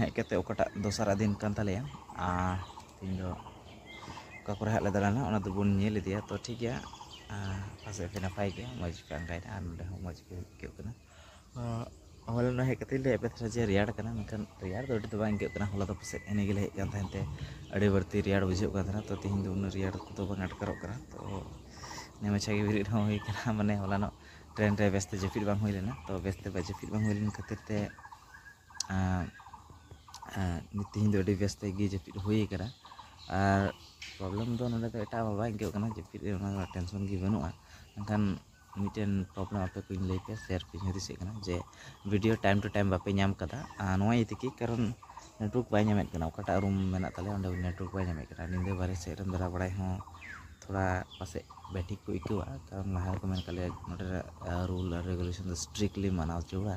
ᱦᱮᱡ ᱠᱟᱛᱮ ᱚᱠᱟᱴᱟᱜ ᱫᱚᱥᱟᱨᱟᱜ ᱫᱤᱱ ᱠᱟᱱ ᱛᱟᱞᱮᱭᱟ ᱟᱨ ᱛᱮᱦᱮᱧ ᱫᱚ ᱚᱠᱟ ᱠᱚᱨᱮ ᱦᱟᱸᱜ ᱞᱮ ᱫᱟᱬᱟᱱᱟ ᱚᱱᱟ ᱫᱚᱵᱚᱱ ᱧᱮᱞ ᱤᱫᱤᱭᱟ ᱛᱚ ᱴᱷᱤᱠ ᱜᱮᱭᱟ ᱯᱟᱥᱮᱡ ᱯᱮ ᱱᱟᱯᱟᱭ ᱜᱮᱭᱟ ᱢᱚᱡᱽ ᱯᱮ ᱟᱸᱜᱟᱭᱮᱱᱟ ᱟᱨ ᱱᱚᱰᱮ ᱦᱚᱸ ᱢᱚᱡᱽ ᱜᱮ ᱟᱹᱭᱠᱟᱹᱜ ᱠᱟᱱᱟ ᱦᱚᱞᱟ ᱱᱚᱰᱮ ᱦᱮᱡ ᱠᱟᱛᱮ ᱞᱮ ᱮᱯᱮᱛ ᱨᱮ ᱡᱮ ᱨᱮᱭᱟᱲ ᱠᱟᱱᱟ ᱢᱮᱱᱠᱷᱟᱱ ᱨᱮᱭᱟᱲ ᱫᱚ ᱟᱹᱰᱤ ᱫᱚ ᱵᱟᱝ ᱟᱹᱭᱠᱟᱹᱜ ᱠᱟᱱᱟ ᱦᱚᱞᱟ ᱫᱚ ᱯᱟᱥᱮᱡ ᱮᱱᱮ ᱜᱮᱞᱮ ᱦᱮᱡ ᱠᱟᱱ ᱛᱟᱦᱮᱱ ᱛᱮ ᱟᱹᱰᱤ ᱵᱟᱹᱲᱛᱤ ᱨᱮᱭᱟᱲ ᱵᱩᱡᱷᱟᱹᱜ ᱠᱟᱱ ᱛᱟᱦᱮᱱᱟ ᱛᱚ ᱛᱮᱦᱮᱧ ᱫᱚ ᱩᱱᱟᱹᱜ ᱨᱮᱭᱟᱲ ᱠᱚᱫᱚ ᱵᱟᱝ ᱟᱴᱠᱟᱨᱚᱜ ᱠᱟᱱᱟ ᱛᱚ ᱱᱮ ᱢᱟᱪᱷᱟ ᱜᱮ ᱵᱮᱨᱮᱫ ᱦᱚᱸ ᱦᱩᱭ ᱠᱟᱱᱟ ᱢᱟᱱᱮ ᱦᱚᱞᱟᱱᱚᱜ ᱴᱨᱮᱱ ᱨᱮ ᱵᱮᱥᱛᱮ ᱡᱟᱹᱯᱤᱫ ᱵᱟᱝ ᱦᱩᱭ ᱞᱮᱱᱟ ᱛᱚ ᱵᱮᱥᱛᱮ ᱵᱟᱭ ᱡᱟᱹᱯᱤᱫ ᱵᱟᱝ ᱦᱩᱭ ᱞᱮᱱ ᱠᱷᱟᱹᱛᱤᱨ ᱛᱮ ᱛᱮᱦᱮᱧ ᱫᱚ ᱟᱹᱰᱤ ᱵᱮᱥ ᱛᱮᱜᱮ ᱡᱟᱹᱯᱤᱫ ᱦᱩᱭ ᱠᱟᱱᱟ ᱟᱨ ᱯᱨᱚᱵᱞᱮᱢ ᱫᱚ ᱱᱚᱰᱮ ᱫᱚ ᱮᱴᱟᱜ ᱟᱜ ᱵᱟᱭ ᱟᱹᱭᱠᱟᱹᱜ ᱠᱟᱱᱟ ᱡᱟᱹᱯᱤᱫ ᱨᱮᱭᱟᱜ ᱚᱱᱟ ᱨᱮᱭᱟᱜ ᱴᱮᱱᱥᱚᱱ ᱜᱮ ᱵᱟᱹᱱᱩᱜᱼᱟ ᱢᱮᱱᱠᱷᱟᱱ ᱢᱤᱫᱴᱮᱱ ᱯᱨᱚᱵᱞᱮᱢ ᱟᱯᱮ ᱠᱚᱧ ᱞᱟᱹᱭ ᱯᱮᱭᱟ ᱥᱮᱭᱟᱨ ᱯᱮ ᱦᱩᱫᱤᱥ ᱦᱮᱡ ᱠᱟᱱᱟ ᱡᱮ ᱵᱷᱤᱰᱭᱳ ᱴᱟᱭᱤᱢ ᱴᱩ ᱴᱟᱭᱤᱢ ᱵᱟᱯᱮ ᱧᱟᱢ ᱠᱟᱫᱟ ᱟᱨ ᱱᱚᱣᱟ ᱤᱭᱟᱹ ᱛᱮᱜᱮ ᱠᱟᱨᱚᱱ ᱱᱮᱴᱣᱟᱨᱠ ᱵᱟᱭ ᱧᱟᱢᱮᱜ ᱠᱟᱱᱟ ᱚᱠᱟᱴᱟᱜ ᱨᱩᱢ ᱢᱮᱱᱟᱜ ᱛᱟᱞᱮᱭᱟ ᱚᱸᱰᱮ ᱱᱮᱴᱣᱟᱨᱠ ᱵᱟᱭ ᱧᱟᱢᱮᱜ ᱠᱟᱱᱟ ᱧᱤᱫᱟᱹ ᱵᱟᱦᱨᱮ ᱥᱮᱜ ᱨᱮᱢ ᱫᱟᱬᱟ ᱵᱟᱲᱟᱭ ᱦᱚᱸ ᱛᱷᱚᱲᱟ ᱯᱟᱥᱮᱡ ᱵᱟᱭ ᱴᱷᱤᱠ ᱠᱚ ᱟᱹᱭᱠᱟᱹᱣᱟ ᱠᱟᱨᱚᱱ ᱞᱟᱦᱟ ᱨᱮᱠᱚ ᱢᱮᱱ ᱠᱟᱜ ᱞᱮᱭᱟ ᱱᱚᱰᱮᱱᱟᱜ ᱨᱩᱞ ᱟᱨ ᱨᱮᱜᱩᱞᱮᱥᱚᱱ ᱫᱚ ᱥᱴᱨᱤᱠᱞᱤ ᱢᱟᱱᱟᱣ ᱡᱟᱹᱨᱩᱲᱟ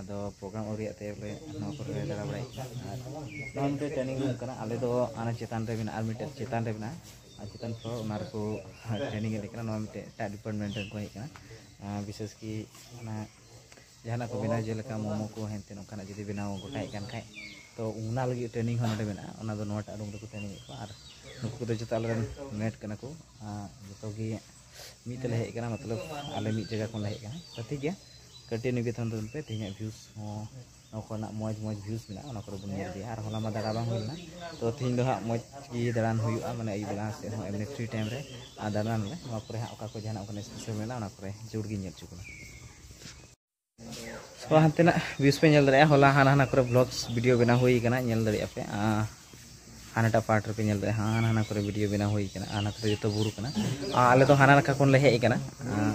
ᱟᱫᱚ ᱯᱨᱳᱜᱨᱟᱢ ᱟᱹᱣᱨᱤᱭᱟᱜ ᱛᱮ ᱵᱚᱞᱮ ᱱᱚᱣᱟ ᱠᱚᱨᱮ ᱞᱮ ᱫᱟᱬᱟ ᱵᱟᱲᱟᱭᱮᱫ ᱠᱟᱱᱟ ᱟᱨ ᱱᱚᱣᱟ ᱢᱤᱫᱴᱮᱡ ᱴᱨᱮᱱᱤᱝ ᱨᱩᱢ ᱠᱟᱱᱟ ᱟᱞᱮ ᱫᱚ ᱚᱱᱟ ᱪᱮᱛᱟᱱ ᱨᱮ ᱢᱮᱱᱟᱜᱼᱟ ᱟᱨ ᱢᱤᱫᱴᱮᱡ ᱪᱮᱛᱟᱱ ᱨᱮ ᱢᱮᱱᱟᱜᱼᱟ ᱟᱨ ᱪᱮᱛᱟᱱ ᱯᱷᱞᱳᱨ ᱚᱱᱟ ᱨᱮᱠᱚ ᱴᱨᱮᱱᱤᱝ ᱮᱫ ᱞᱮ ᱠᱟᱱᱟ ᱱᱚᱣᱟ ᱢᱤᱫᱴᱮᱡ ᱮᱴᱟᱜ ᱰᱤᱯᱟᱨᱴᱢᱮᱱᱴ ᱨᱮᱱ ᱠᱚ ᱦᱮᱡ ᱠᱟᱱᱟ ᱵᱤᱥᱮᱥ ᱠᱤ ᱚᱱᱟ ᱡᱟᱦᱟᱱᱟᱜ ᱠᱚ ᱵᱮᱱᱟᱣ ᱡᱮᱞᱮᱠᱟ ᱢᱳᱢᱳ ᱠᱚ ᱦᱮᱱ ᱛᱮᱱ ᱚᱱᱠᱟᱱᱟᱜ ᱡᱩᱫᱤ ᱵᱮᱱᱟᱣ ᱜᱚᱴᱟᱭᱮᱫ ᱠᱟᱱ ᱠᱷᱟᱡ ᱛᱚ ᱚᱱᱟ ᱞᱟᱹᱜᱤᱫ ᱴᱨᱮᱱᱤᱝ ᱦᱚᱸ ᱱᱚᱰᱮ ᱢᱮᱱᱟᱜᱼᱟ ᱚᱱᱟ ᱫᱚ ᱱᱚᱣᱟᱴᱟᱜ ᱨᱩᱢ ᱨᱮᱠᱚ ᱴᱨᱮᱱᱤᱝ ᱮᱫ ᱠᱚᱣᱟ ᱟᱨ ᱱᱩᱠᱩ ᱠᱚᱫᱚ ᱡᱚᱛᱚ ᱟᱞᱮ ᱨᱮᱱ ᱢᱮᱴ ᱠᱟᱱᱟ ᱠᱚ ᱡᱚᱛᱚ ᱜᱮ ᱢᱤᱫ ᱛᱮᱞᱮ ᱦᱮᱡ ᱟᱠᱟᱱᱟ ᱢᱚᱛᱞᱚᱵ ᱟᱞᱮ ᱢᱤᱫ ᱡᱟᱭᱜᱟ ᱠᱷᱚᱱ ᱞᱮ ᱦᱮᱡ ᱟᱠᱟᱱᱟ ᱛᱚ ᱴᱷᱤᱠ ᱜᱮᱭᱟ ᱠᱟᱹᱴᱤᱡ ᱱᱤᱵᱮᱫᱚᱱ ᱛᱟᱵᱚᱱ ᱯᱮ ᱛᱮᱦᱮᱧᱟᱜ ᱵᱷᱤᱭᱩᱥ ᱦᱚᱸ ᱱᱚᱣᱟ ᱠᱚᱨᱮᱱᱟᱜ ᱢᱚᱡᱽ ᱢᱚᱡᱽ ᱵᱷᱤᱭᱩᱥ ᱢᱮᱱᱟᱜᱼᱟ ᱚᱱᱟ ᱠᱚᱨᱮ ᱵᱚᱱ ᱧᱮᱞ ᱤᱫᱤᱭᱟ ᱟᱨ ᱦᱚᱞᱟ ᱢᱟ ᱫᱟᱬᱟ ᱵᱟᱝ ᱦᱩᱭ ᱞᱮᱱᱟ ᱛᱚ ᱛᱮᱦᱮᱧ ᱫᱚ ᱦᱟᱸᱜ ᱢᱚᱡᱽ ᱜᱮ ᱫᱟᱬᱟᱱ ᱦᱩᱭᱩᱜᱼᱟ ᱢᱟᱱᱮ ᱟᱹᱭᱩᱵ ᱵᱮᱞᱟ ᱥᱮᱫ ᱦᱚᱸ ᱮᱢᱱᱤ ᱯᱷᱨᱤ ᱴᱟᱭᱤᱢ ᱨᱮ ᱟᱨ ᱫᱟᱬᱟᱱ ᱟᱞᱮ ᱱᱚᱣᱟ ᱠᱚᱨᱮ ᱦᱟᱸᱜ ᱚᱠᱟ ᱠᱚ ᱡᱟᱦᱟᱱᱟᱜ ᱚᱱᱠᱟᱱᱟᱜ ᱥᱯᱮᱥᱟᱞ ᱢᱮᱱᱟᱜᱼᱟ ᱚᱱᱟ ᱠᱚᱨᱮ ᱡᱳᱨ ᱜᱮᱧ ᱧᱮᱞ ᱦᱚᱪᱚ ᱵᱚᱱᱟ ᱛᱚ ᱦᱟᱱᱛᱮᱱᱟᱜ ᱵᱷᱤᱭᱩᱥ ᱯᱮ ᱧᱮᱞ ᱫᱟᱲᱮᱭᱟᱜᱼᱟ ᱦᱚᱞᱟ ᱦᱟᱱᱟ ᱦᱟᱱᱟ ᱠᱚᱨᱮ ᱵᱞᱚᱜᱥ ᱵᱷᱤᱰᱤᱭᱳ ᱵᱮᱱᱟᱣ ᱦᱩᱭ ᱠᱟᱱᱟ ᱧᱮᱞ ᱫᱟᱲᱮᱭᱟᱜᱼᱟ ᱯᱮ ᱦᱟᱱᱟᱴᱟᱜ ᱯᱟᱨᱴ ᱨᱮᱯᱮ ᱧᱮᱞ ᱫᱟᱲᱮᱭᱟᱜᱼᱟ ᱦᱟᱱᱟ ᱦᱟᱱᱟ ᱠᱚᱨᱮ ᱵᱷᱤᱰᱤᱭᱳ ᱵᱮᱱᱟᱣ ᱦᱩᱭ ᱠᱟᱱᱟ ᱦᱟᱱᱟ ᱠᱚᱨᱮ ᱡᱚᱛᱚ ᱵᱩᱨᱩ ᱠᱟᱱᱟ ᱟᱞᱮ ᱫᱚ ᱦᱟᱱᱟ ᱱᱟᱠᱷᱟ ᱠᱷᱚᱱ ᱞᱮ ᱦᱮᱡ ᱠᱟᱱᱟ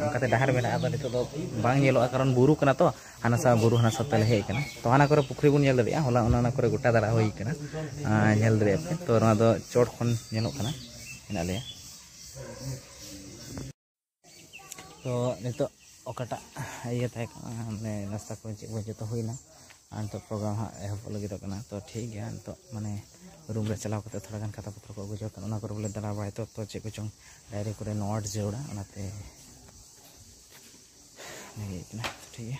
ᱚᱱᱠᱟᱛᱮ ᱰᱟᱦᱟᱨ ᱢᱮᱱᱟᱜᱼᱟ ᱟᱫᱚ ᱱᱤᱛᱚᱜ ᱫᱚ ᱵᱟᱝ ᱧᱮᱞᱚᱜᱼᱟ ᱠᱟᱨᱚᱱ ᱵᱩᱨᱩ ᱠᱟᱱᱟ ᱛᱚ ᱦᱟᱱᱟ ᱥᱟᱶ ᱵᱩᱨᱩ ᱦᱟᱱᱟ ᱥᱟᱶ ᱛᱮᱞᱮ ᱦᱮᱡ ᱠᱟᱱᱟ ᱛᱚ ᱦᱟᱱᱟ ᱠᱚᱨᱮ ᱯᱩᱠᱷᱨᱤ ᱵᱚᱱ ᱧᱮᱞ ᱫᱟᱲᱮᱭᱟᱜᱼᱟ ᱦᱚᱞᱟ ᱚᱱᱟ ᱚᱱᱟ ᱠᱚᱨᱮ ᱜᱚᱴᱟ ᱫᱟᱬᱟ ᱦᱩᱭ ᱠᱟᱱᱟ ᱧᱮᱞ ᱫᱟᱲᱮᱭᱟᱜᱼᱟ ᱯᱮ ᱛᱚ ᱱᱚᱣᱟ ᱫᱚ ᱪᱚᱴ ᱠᱷᱚᱱ ᱧᱮᱞᱚᱜ ᱠᱟᱱᱟ ᱢᱮᱱᱟᱜ ᱞᱮᱭᱟ ᱛᱚ ᱱᱤᱛᱚᱜ ᱚᱠᱟᱴᱟᱜ ᱤᱭᱟᱹ ᱛᱟᱦᱮᱸ ᱠᱟᱱᱟ ᱢᱟᱱᱮ ᱱᱟᱥᱛᱟ ᱠᱚ ᱪᱮᱫ ᱠᱚ ᱡᱚᱛᱚ ᱦᱩᱭᱱᱟ ᱟᱨ ᱱᱤᱛᱚᱜ ᱯᱨᱳᱜᱨᱟᱢ ᱦᱟᱸᱜ ᱮᱦᱚᱵᱚᱜ ᱞᱟᱹᱜᱤᱫᱚᱜ ᱠᱟᱱᱟ ᱛᱚ ᱴᱷᱤᱠ ᱜᱮᱭᱟ ᱱᱤᱛᱚᱜ ᱢᱟᱱᱮ ᱨᱩᱢ ᱨᱮ ᱪᱟᱞᱟᱣ ᱠᱟᱛᱮ ᱛᱷᱚᱲᱟ ᱜᱟᱱ ᱠᱷᱟᱛᱟ ᱯᱚᱛᱨᱚ ᱠᱚ ᱟᱹᱜᱩ ᱡᱚᱲ ᱠᱟᱱᱟ ᱚᱱᱟ ᱠᱚᱨᱮ ᱵᱚᱞᱮ ᱫᱟᱬᱟ ᱵᱟᱲᱟᱭ ᱛᱚ ᱛᱚ ᱪᱮᱫ ᱠᱚᱪᱚᱝ ᱰᱟᱭᱨᱤ ᱠᱚᱨᱮ ᱱᱳᱴ ᱡᱟᱹᱨᱩᱲᱟ ᱚᱱᱟᱛᱮ ᱞᱟᱹᱭ ᱠᱟᱱᱟ ᱴᱷᱤᱠ ᱜᱮᱭᱟ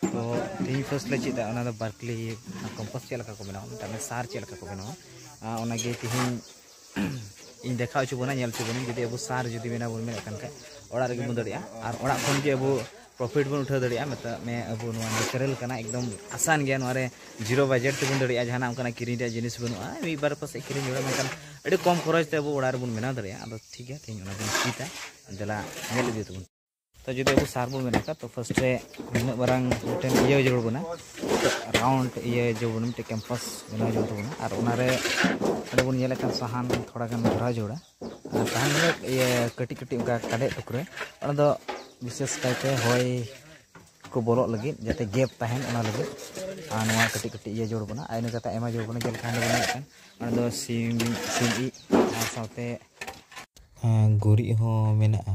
ᱛᱚ ᱛᱮᱦᱮᱧ ᱯᱷᱟᱨᱥᱴ ᱞᱮ ᱪᱮᱫᱟ ᱚᱱᱟ ᱫᱚ ᱵᱟᱨᱠᱞᱤ ᱠᱚᱢᱯᱚᱥ ᱪᱮᱫ ᱞᱮᱠᱟ ᱠᱚ ᱵᱮᱱᱟᱣᱟ ᱢᱮᱛᱟᱜ ᱢᱮ ᱥᱟᱨ ᱪᱮᱫ ᱞᱮᱠᱟ ᱠᱚ ᱵᱮᱱᱟᱣᱟ ᱚᱱᱟᱜᱮ ᱛᱮᱦᱮᱧ ᱤᱧ ᱫᱮᱠᱷᱟᱣ ᱦᱚᱪᱚ ᱵᱚᱱᱟ ᱧᱮᱞ ᱦᱚᱪᱚ ᱵᱚᱱᱟ ᱡᱩᱫᱤ ᱟᱵᱚ ᱥᱟᱨ ᱡᱩᱫᱤ ᱵᱮᱱᱟᱣ ᱵᱚᱱ ᱢᱮᱱᱮᱫ ᱠᱟᱱ ᱠᱷᱟᱡ ᱚᱲᱟᱜ ᱨᱮᱜᱮ ᱵᱚᱱ ᱫᱟᱲᱮᱭᱟᱜᱼᱟ ᱟᱨ ᱚᱲᱟᱜ ᱠᱷᱚᱱ ᱜᱮ ᱟᱵᱚ ᱯᱨᱚᱯᱷᱤᱴ ᱵᱚᱱ ᱩᱴᱷᱟᱹᱣ ᱫᱟᱲᱮᱭᱟᱜᱼᱟ ᱢᱮᱛᱟᱜ ᱢᱮ ᱟᱵᱚ ᱱᱚᱣᱟ ᱱᱮᱪᱟᱨᱮᱞ ᱠᱟᱱᱟ ᱮᱠᱫᱚᱢ ᱟᱥᱟᱱ ᱜᱮᱭᱟ ᱱᱚᱣᱟ ᱨᱮ ᱡᱤᱨᱳ ᱵᱟᱡᱮᱴ ᱛᱮᱵᱚᱱ ᱫᱟᱲᱮᱭᱟᱜᱼᱟ ᱡᱟᱦᱟᱱᱟᱜ ᱚᱱᱠᱟᱱᱟᱜ ᱠᱤᱨᱤᱧ ᱨᱮᱭᱟᱜ ᱡᱤᱱᱤᱥ ᱵᱟᱹᱱᱩᱜᱼᱟ ᱢᱤᱫ ᱵᱟᱨ ᱯᱟᱥᱮᱡ ᱠᱤᱨᱤᱧ ᱦᱩᱭᱩᱜᱼᱟ ᱢᱮᱱᱠᱷᱟᱱ ᱟᱹᱰᱤ ᱠᱚᱢ ᱠᱷᱚᱨᱚᱪ ᱛᱮ ᱟᱵᱚ ᱚᱲᱟᱜ ᱨᱮᱵᱚᱱ ᱵᱮᱱᱟᱣ ᱫᱟᱲᱮᱭᱟᱜᱼᱟ ᱟᱫᱚ ᱴᱷᱤᱠ ᱜᱮᱭᱟ ᱛᱮᱦᱮᱧ ᱚᱱᱟ ᱵᱚᱱ ᱪᱮᱫᱟ ᱫᱮᱞᱟ ᱧᱮᱞ ᱤᱫᱤ ᱛᱟᱵᱚᱱ ᱛᱚ ᱡᱩᱫᱤ ᱟᱵᱚ ᱥᱟᱨ ᱵᱚᱱ ᱵᱮᱱᱟᱣ ᱠᱷᱟᱱ ᱛᱚ ᱯᱷᱟᱥᱴ ᱨᱮ ᱱᱩᱱᱟᱹᱜ ᱢᱟᱨᱟᱝ ᱢᱤᱫᱴᱮᱱ ᱤᱭᱟᱹ ᱡᱟᱹᱨᱩᱲ ᱵᱚᱱᱟ ᱨᱟᱣᱩᱱᱰ ᱤᱭᱟᱹ ᱡᱟᱹᱨᱩᱲ ᱵᱚᱱᱟ ᱢᱤᱫᱴᱮᱱ ᱠᱮᱢᱯᱟᱥ ᱵᱮᱱᱟᱣ ᱡᱟᱹᱨᱩᱲ ᱛᱟᱵᱚᱱᱟ ᱟᱨ ᱚᱱᱟᱨᱮ ᱚᱸᱰᱮ ᱵᱚᱱ ᱧᱮᱞᱮᱫ ᱠᱟᱱ ᱥᱟᱦᱟᱱ ᱛᱷᱚᱲᱟ ᱜᱟᱱ ᱵᱷᱚᱨᱟᱣ ᱡᱟᱹᱨᱩᱲᱟ ᱟᱨ ᱥᱟᱦᱟᱱ ᱫᱚ ᱤᱭᱟᱹ ᱠᱟᱹᱴᱤᱡ ᱠᱟᱹᱴᱤᱡ ᱚᱱᱠᱟ ᱠᱟᱰᱮᱡ ᱴᱩᱠᱨᱟᱹ ᱚᱱᱟ ᱫᱚ ᱵᱤᱥᱮᱥ ᱠᱟᱭᱛᱮ ᱦᱚᱭ ᱠᱚ ᱵᱚᱞᱚᱜ ᱞᱟᱹᱜᱤᱫ ᱡᱟᱛᱮ ᱜᱮᱯ ᱛᱟᱦᱮᱱ ᱚᱱᱟ ᱞᱟᱹᱜᱤᱫ ᱟᱨ ᱱᱚᱣᱟ ᱠᱟᱹᱴᱤᱡ ᱠᱟᱹᱴᱤᱡ ᱤᱭᱟᱹ ᱡᱟᱹᱨᱩᱲ ᱵᱚᱱᱟ ᱟᱨ ᱤᱱᱟᱹ ᱠᱟᱛᱮ ᱟᱭᱢᱟ ᱡᱟᱹᱨᱩᱲ ᱵᱚᱱᱟ ᱡᱮᱞᱮᱠᱟ ᱚᱸᱰᱮ ᱵᱚᱱ ᱧᱮᱞᱮᱫ ᱠᱟᱱ ᱚᱱᱟ ᱫᱚ ᱥᱤᱢ ᱥᱤᱢ ᱤᱡ ᱟᱨ ᱥᱟᱶᱛᱮ ᱜᱩᱨᱤᱡ ᱦᱚᱸ ᱢᱮᱱᱟᱜᱼᱟ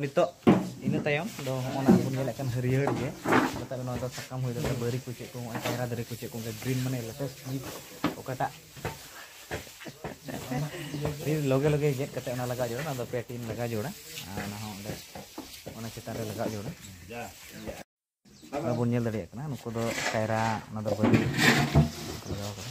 ᱱᱤᱛᱚᱜ ᱤᱱᱟᱹ ᱛᱟᱭᱚᱢ ᱫᱚ ᱦᱚᱸᱜᱼᱚ ᱱᱟ ᱵᱚᱱ ᱧᱮᱞᱮᱫ ᱠᱟᱱ ᱦᱟᱹᱨᱭᱟᱹᱲ ᱜᱮ ᱢᱮᱛᱟᱜ ᱱᱚᱣᱟ ᱫᱚ ᱥᱟᱠᱟᱢ ᱦᱩᱭ ᱫᱟᱲᱮᱭᱟᱜᱼᱟ ᱵᱟᱹᱨᱤ ᱠᱚ ᱪᱮᱫ ᱠᱚ ᱦᱚᱸᱜᱼᱚᱭ ᱠᱟᱭᱨᱟ ᱫᱟᱨᱮ ᱠᱚ ᱪᱮᱫ ᱠᱚ ᱚᱱᱠᱟ ᱜᱨᱤᱱ ᱢᱟᱱᱮ ᱞᱮᱴᱮᱥᱴ ᱡᱤᱱᱤᱥ ᱚᱠᱟᱴᱟᱜ ᱞᱚᱜᱮ ᱞᱚᱜᱮ ᱜᱮᱫ ᱠᱟᱛᱮ ᱚᱱᱟ ᱞᱟᱜᱟᱣ ᱡᱚᱲᱟ ᱚᱱᱟ ᱫᱚ ᱯᱮ ᱴᱤᱱ ᱞᱟᱜᱟᱣ ᱡᱚᱲᱟ ᱟᱨ ᱚᱱᱟ ᱦᱚᱸ ᱚᱸᱰᱮ ᱚᱱᱟ ᱪᱮᱛᱟᱱ ᱨᱮ ᱞᱟᱜᱟᱣ ᱡᱚᱲᱟ ᱚᱱᱟ ᱵᱚᱱ ᱧᱮᱞ ᱫᱟᱲᱮᱭᱟᱜ ᱠᱟᱱᱟ ᱱᱩᱠᱩ ᱫᱚ ᱠᱟᱭᱨᱟ ᱚᱱᱟ ᱫᱚ ᱵᱟᱹᱨᱤ ᱞᱟᱜᱟᱣ ᱠᱟᱫᱟ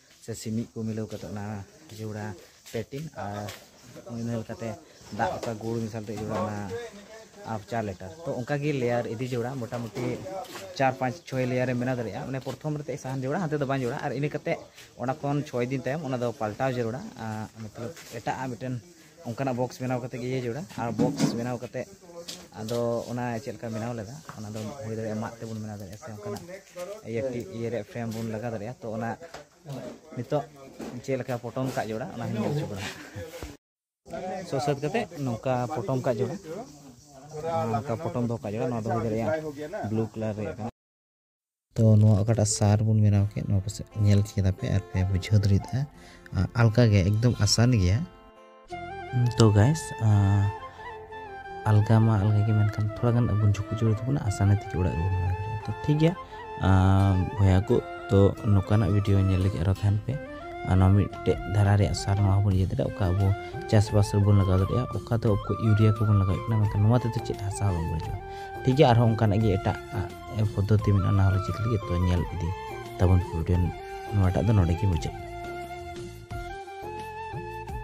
ᱥᱮ ᱥᱤᱢᱤᱡ ᱠᱚ ᱢᱤᱞᱟᱹᱣ ᱠᱟᱛᱮ ᱚᱱᱟ ᱡᱚᱲᱟ ᱯᱮᱴᱤᱱ ᱟᱨ ᱤᱱᱟᱹ ᱞᱮᱠᱟᱛᱮ ᱫᱟᱜ ᱚᱠᱟ ᱜᱩᱲ ᱢᱮᱥᱟᱞ ᱛᱮ ᱡᱚᱲᱟ ᱚᱱᱟ ᱟᱯ ᱪᱟᱨ ᱞᱮᱴᱟᱨ ᱛᱚ ᱚᱱᱠᱟ ᱜᱮ ᱞᱮᱭᱟᱨ ᱤᱫᱤ ᱡᱚᱲᱟ ᱢᱚᱴᱟᱢᱩᱴᱤ ᱪᱟᱨ ᱯᱟᱸᱪ ᱪᱷᱚᱭ ᱞᱮᱭᱟᱨ ᱮᱢ ᱵᱮᱱᱟᱣ ᱫᱟᱲᱮᱭᱟᱜᱼᱟ ᱢᱟᱱᱮ ᱯᱨᱚᱛᱷᱚᱢ ᱨᱮ ᱥᱟᱦᱟᱱ ᱡᱚᱲᱟ ᱦᱟᱱᱛᱮ ᱫᱚ ᱵᱟᱝ ᱡᱚᱲᱟ ᱟᱨ ᱤᱱᱟᱹ ᱠᱟᱛᱮ ᱚᱱᱟ ᱠᱷᱚᱱ ᱪᱷᱚᱭ ᱫᱤᱱ ᱛᱟᱭᱚᱢ ᱚᱱᱟ ᱫᱚ ᱯᱟᱞᱴᱟᱣ ᱡᱟᱹᱨᱩᱲᱟ ᱢᱚᱛᱞᱚᱵ ᱮᱴᱟᱜ ᱟᱜ ᱢᱤᱫᱴᱮᱱ ᱚᱱᱠᱟᱱᱟᱜ ᱵᱚᱠᱥ ᱵᱮᱱᱟᱣ ᱠᱟᱛᱮ ᱜᱮ ᱤᱭᱟᱹ ᱡᱟᱹᱨᱩᱲᱟ ᱟᱨ ᱵᱚᱠᱥ ᱵᱮᱱᱟᱣ ᱠᱟᱛᱮ ᱟᱫᱚ ᱚᱱᱟ ᱪᱮᱫ ᱞᱮᱠᱟ ᱵᱮᱱᱟᱣ ᱞᱮᱫᱟ ᱚᱱᱟ ᱫᱚ ᱦᱩᱭ ᱫᱟᱲᱮᱭᱟᱜᱼᱟ ᱢᱟᱫ ᱛᱮᱵᱚᱱ ᱵᱮᱱᱟᱣ ᱫᱟᱲᱮᱭᱟᱜᱼᱟ ᱥᱮ ᱚᱱᱠᱟᱱᱟᱜ ᱤᱭᱟᱹ ᱤᱭᱟᱹ ᱨᱮᱭᱟᱜ ᱯᱷᱨᱮᱢ ᱵᱚᱱ ᱞᱟᱜᱟᱣ ᱫᱟᱲᱮᱭᱟᱜᱼᱟ ᱛᱚ ᱚᱱᱟ ᱱᱤᱛᱚᱜ ᱪᱮᱫ ᱞᱮᱠᱟ ᱯᱚᱴᱚᱢ ᱠᱟᱜ ᱡᱟᱹᱨᱩᱲᱟ ᱚᱱᱟ ᱦᱚᱸ ᱧᱮᱞ ᱦᱚᱪᱚ ᱵᱚᱱᱟ ᱥᱚ ᱥᱟᱹᱛ ᱠᱟᱛᱮ ᱱᱚᱝᱠᱟ ᱯᱚᱴᱚᱢ ᱠᱟᱜ ᱡᱟᱹᱨᱩᱲᱟ ᱱᱚᱝᱠᱟ ᱯᱚᱴᱚᱢ ᱫᱚᱦᱚ ᱠᱟᱜ ᱡᱟᱹᱨᱩᱲᱟ ᱱᱚᱣᱟ ᱫᱚ ᱦᱩᱭ ᱫᱟᱲᱮᱭᱟᱜᱼᱟ ᱵᱞᱩ ᱠᱟᱞᱟᱨ ᱨᱮᱭᱟᱜ ᱠᱟᱱᱟ ᱛᱚ ᱱᱚᱣᱟ ᱚᱠᱟᱴᱟᱜ ᱥᱟᱨ ᱵᱚᱱ ᱵᱮᱱᱟᱣ ᱠᱮᱫ ᱱᱚᱣᱟ ᱯᱟᱥᱮᱡ ᱧᱮᱞ ᱠᱮᱫᱟ ᱯᱮ ᱟᱨ ᱯᱮ ᱵᱩᱡᱷᱟᱹᱣ ᱫᱟᱲᱮᱭᱟᱫᱟ ᱟᱞᱠᱟ ᱜᱮ ᱮᱠᱫᱚᱢ ᱟᱥᱟᱱ ᱜᱮᱭᱟ ᱛᱚ ᱜᱟᱭᱥ ᱟᱞᱜᱟ ᱢᱟ ᱟᱞᱜᱟ ᱜᱮ ᱢᱮᱱᱠᱷᱟᱱ ᱛᱷᱚᱲᱟ ᱜᱟᱱ ᱟᱵᱚᱱ ᱡᱷᱩᱠᱩ ᱡᱩᱲᱩ ᱛᱟᱵᱚᱱᱟ ᱟᱥᱟᱱ ᱛᱮᱜᱮ ᱚᱲᱟᱜ ᱜᱮᱵᱚᱱ ᱵᱮᱱᱟᱣ ᱫᱟᱲᱮᱭᱟᱜᱼᱟ ᱛᱚ ᱴᱷᱤᱠ ᱜᱮᱭᱟ ᱵᱚᱭᱦᱟ ᱠᱚ ᱛᱚ ᱱᱚᱝᱠᱟᱱᱟᱜ ᱵᱷᱤᱰᱤᱭᱳ ᱧᱮᱞ ᱞᱟᱹᱜᱤᱫ ᱟᱨᱚ ᱛᱟᱦᱮᱱ ᱯᱮ ᱱᱚᱣᱟ ᱢᱤᱫᱴᱮᱡ ᱫᱷᱟᱨᱟ ᱨᱮᱭᱟᱜ ᱥᱟᱨ ᱱᱚᱣᱟ ᱦᱚᱸᱵᱚᱱ ᱤᱭᱟᱹ ᱫᱟᱲᱮᱭᱟᱜᱼᱟ ᱚᱠᱟ ᱟᱵᱚ ᱪᱟᱥᱵᱟᱥ ᱨᱮᱵᱚᱱ ᱞᱟᱜᱟᱣ ᱫᱟᱲᱮᱭᱟᱜᱼᱟ ᱚᱠᱟ ᱫᱚ ᱤᱭᱩᱨᱤᱭᱟ ᱠᱚᱵᱚᱱ ᱞᱟᱜᱟᱣᱮᱫ ᱠᱟᱱᱟ ᱢᱮᱱᱠᱷᱟᱱ ᱱᱚᱣᱟ ᱛᱮᱫᱚ ᱪᱮᱫ ᱦᱟᱥᱟ ᱦᱚᱸ ᱵᱟᱝ ᱵᱟᱹᱲᱤᱡᱚᱜᱼᱟ ᱴᱷᱤᱠ ᱜᱮᱭᱟ ᱟᱨᱦᱚᱸ ᱚᱱᱠᱟᱱᱟᱜ ᱜᱮ ᱮᱴᱟᱜ ᱯᱚᱫᱽᱫᱷᱚᱛᱤ ᱢᱮᱱᱟᱜᱼᱟ ᱚᱱᱟ ᱦᱚᱸᱞᱮ ᱪᱮᱫ ᱞᱟᱹᱜᱤᱫ ᱛᱚ ᱧᱮᱞ ᱤᱫᱤ ᱛᱟᱵᱚᱱ ᱯᱮ ᱵᱷᱤᱰᱤᱭᱳ ᱱᱚᱣᱟᱴᱟᱜ ᱫᱚ ᱱᱚᱰᱮ ᱜᱮ ᱢᱩᱪᱟᱹᱫ